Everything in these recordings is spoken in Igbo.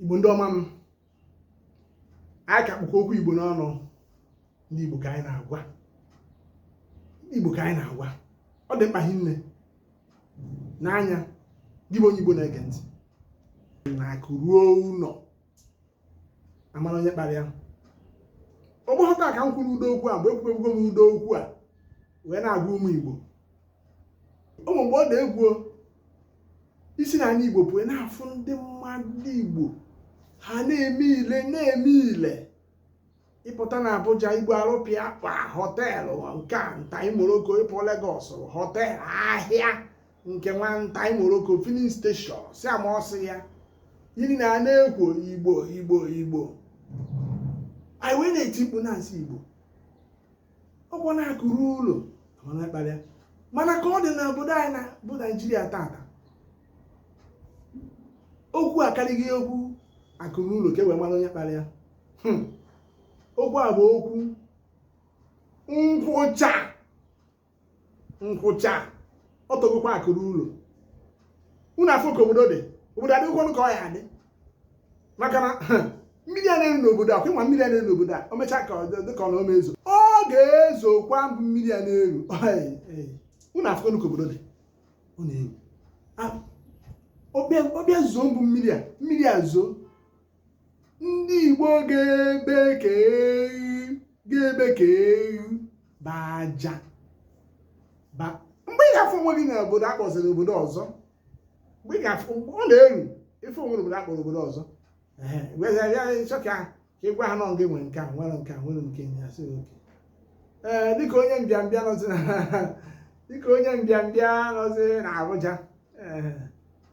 igbo ndị ọma m anyị ka kpụkwa okwu igbo n'ọnụ ndị igbo ka anyị na-agwa ndị igbo ka anyị na-agwa ọ dị mkpa hinne n'anya gị bụ onye igbo na-ege ntị na akụ ruo ụlọ a mara onye kpara ya ọ bụghọ taa ka m kwuru ụdị okwu a mgbe ekwubebugo m ụdị okwu a wee na-agwa ụmụ igbo ụmụ mgbe ọ na-ebu isi na anyị igbo pụọ na-afụ ndị mmadụ igbo ha na-eme ile na-eme ile ị pụta na Abuja igbo arụpịa kpa họteelụ nke a ntaị moroko ị pụọ Legọs họteelụ ahịa nke nwa ntaị moroko filin steshọn si ama ọsị ya yiri na a na-ekwu igbo igbo igbo anyị wee na-eti mkpu na-asị igbo ọ kwa na akụ ruo ụlọ mara onye kpara ya mana ka ọ dị na obodo anyị na bụ naijiria tata okwu akarịghị okwu akụ ruo ụlọ ka e wee mara onye kpara ya hmm. okwu a bụ okwu nkwụcha nkwụcha ọ tọgokwa akụ ruo ụlọ unu afụ ka obodo dị obodo adịghịkwanụ ka ọ ya-adị maka na mmiri a na-eru n'obodo a kwịnwa mmiri a na-eru n'obodo a o mechaa ka dị ka ọ na ọ ma ezo ọ ga-ezokwa bụ mmiri a na-eru unu afụ ka obodo dị ọ na-eru ọ bịa zoo bụ mmiri a mmiri a zoo ndị Igbo ga-ebe ka ewu ga-ebe ka ewu bụ aja mgbe ị ga-afụ onwe gị na obodo a kpọziri obodo ọzọ mgbe ị ga-afụ ọ na-eru ife o nwere obodo a kpọrọ obodo ọzọ chọ ka ị gwa ha na ọ gị nwere nke a nwere nke a nwere nke ya sị oke ee dịka onye mbịambịa nọzi na dịka onye mbịambịa nọzi na Abuja ee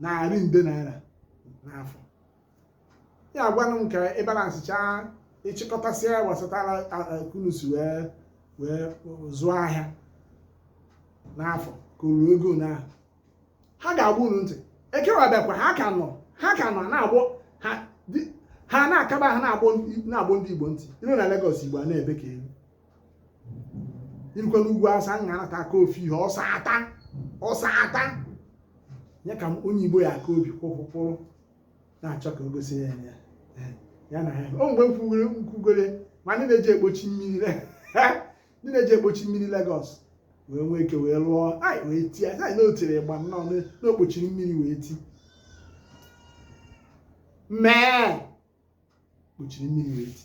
narị nde naira n'afọ ya gwanụ m ka ị balansịchaa ị chịkọtasịa gbasatara ka unu si wee wee zụọ ahịa n'afọ ka o ruo ego na ha ga-agba unu ntị ekewa bịakwa ha ka nọ ha ka nọ na-agbọ ha di- ha na-akaba ha na-agbọ ndị- na-agbọ ndị igbo ntị i ruo na Lagos igbo a na-ebe ka ewu i rukwaa n'ugwu Awụsa m ga-anata aka ofu ihe ọsa ata ọsa ata ya ka onye igbo ya aka obi kwụkwụkwụrụ na-achọ ka o gosi ya ya ya na ya o mgbe m kwugoro nkwugoro ma ndị na-eji ekpochi mmiri le- ndị na-eji ekpochi mmiri Lagos wee nwee ike wee lụọ anyị wee ti anyị anyị n'otiri ịgba nnọọ n'o- n'o kpochiri mmiri wee ti mee kpochiri mmiri wee ti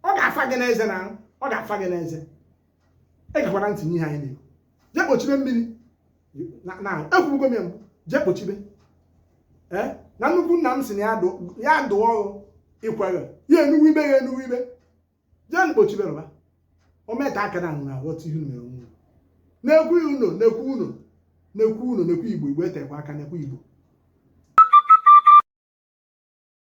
ọ ga-afa gị n'eze na ọ ga-afa gị n'eze egekwara ntị n'ihe anyị na-ekwu jee kpochibe mmiri na ekwugo m ya mbụ jee kpochibe eh? na nnukwu nna m si na ya dụọ ọdụ ikwere ya enuwe ibe ya enuwe ibe jee kpochibe rụba o meta aka na na-aghọta ihe mere unu na-ekwu unu na-ekwu unu na-ekwu unu na-ekwu igbo igbo etekwa aka na-ekwu igbo